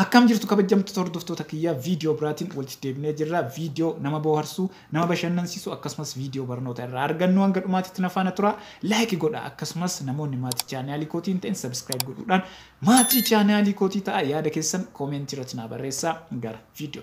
Akkam jirtu kabajjamtoota hordoftoota kiyyaa video biraatiin walitti deebinee jirra video nama booharsu nama bashannansiisu akkasumas video barnoota irraa argannu hanga dhumaatitti na faana turaa like godhaa akkasumas namoonni maatii chaanaalii kootii hin ta'in subscribe godhuudhaan maatii chaanaalii kootii ta'aa yaada keessan comment irratti naa barreessaa gara video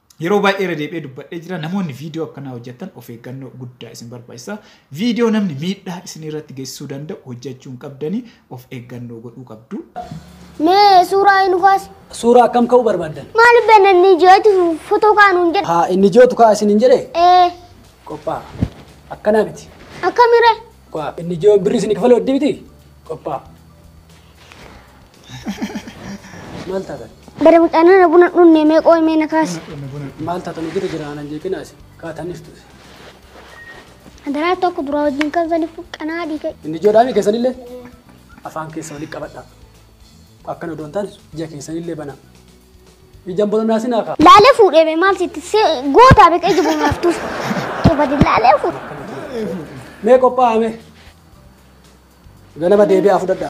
Yeroo baay'ee irra deebi'ee dubbadhee jira namoonni viidiyoo akkanaa hojjettan of eeggannoo guddaa isin barbaachisa. Viidiyoo namni miidhaa isin irratti geessisuu danda'u hojjechuu hin qabdanii of eeggannoo godhuu qabdu. Mee suuraa hin kaas. Suuraa akkam ka'uu barbaaddan? Maaliif beekna inni ijooti fotoo kaanuun jedhe? Haa inni ijootu ka'a isin hin jedhee? Ee Qophaa'a. Akkanaa miti. akkamiree? Qophaa'a. Inni ijoo birri isin kafalu addi miti? Qophaa'a. Maal taatan? Bara mucaan na buna dhunne mee qooy mee na kaasi. Maal taatan hojjeta jira anan jeeqina asi. Kaataniif ture. Adaraa tokko duraa wajjin kan saniif qanaa dhiiga. Inni ijoodhaami keessanillee afaan keessa waliin qabadha. Akkana odoon taane ija keessanillee banaa. Ijaan bolonaa sinaa kaa. Laalee fuudhee bee maal sitti si gootaa beeka ija bunaaf tuuf. Eebadi laalee fuudhe. Mee qophaa'ame. Ganama deebi'aa fudhadha.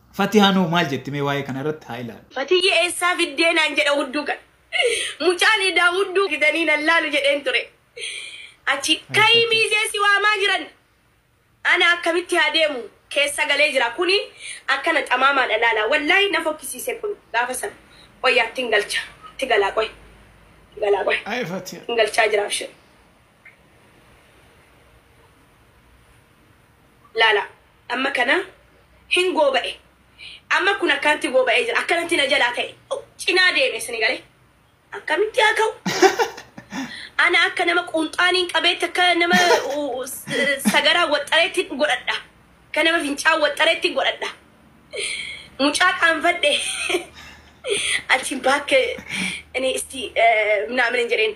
Fatihaan hoo maal jetti mee waa'ee kana irratti haa ilaallu. Fatiyye eessaa fiddee naan jedha hudduu kan. Mucaan idaa hudduu fidanii nan laalu jedheen ture. Achi Ay ka'ii Fati. miizee si waamaa jiran. Ana akkamitti haa deemu keessa galee jira kuni akkana xamaamaadha laala wallaahi na fokkisiise kun gaafa san qoyyaa ittiin galcha itti galaa qoy itti galaa qoy Ay Fatiya. ittiin galchaa jira abshir laala Amma kana hin gooba'e. Amma kun akkanatti gooba'ee jira. Akkanatti na jalaa ka'e. Cinaa deeme sini galee. Akkamitti haa ka'u? Ana akka nama quunxaaniin qabeetti akka nama sagaraa waxxareetti godhadha. Akka nama fincaan waxxareetti godhadha. Mucaa qaanfadhe. Achiin baakkee inni isti naamni hin jedheen.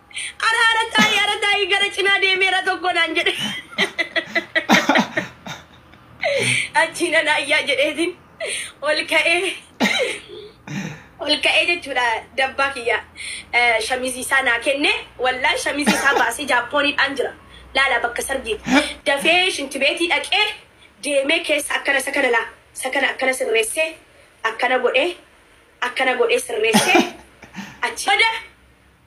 Ara ara taa'ii ara taa'ii gara cinaa deemeera tokko naan jedhe. Achiin ana ayyaa jedheetiin ol ka'ee ol ka'ee jechuudha dabbaa kiyya eh, shamizii isaa naa kenne wallaa shamizii isaa baasee jaappooniidhaan jira laala bakka sargiiti dafee shintibeetii dhaqee deemee keessa akkana isa kana laa isa kana akkana sirreessee akkana godhee akkana godhee sirreessee achi booda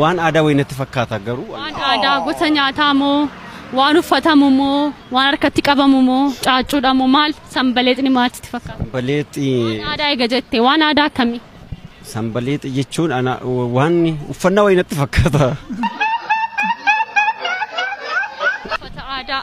Waan aadaa wayii natti fakkaata garuu. Waan aadaa gosa nyaataa moo waan uffatamu moo waan harkatti qabamu moo caaccuudha moo maal sanbaleexni maal sitti fakkaata? Sanbaleexi. Waan aadaa eega jette waan aadaa akkamii? Sanbaleexi jechuun ana waan uffannaa wayii natti fakkaata. Uffata aadaa.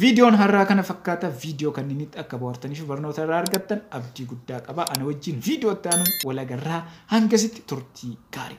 Viidiyoon har'aa kana fakkaata. Viidiyoo kanniinitti akka bohaartanii fi barnoota irraa argattan abdii guddaa qaba. Ana wajjin viidiyoo itti aanuun wal agarraa. Hangasitti turtii gaarii.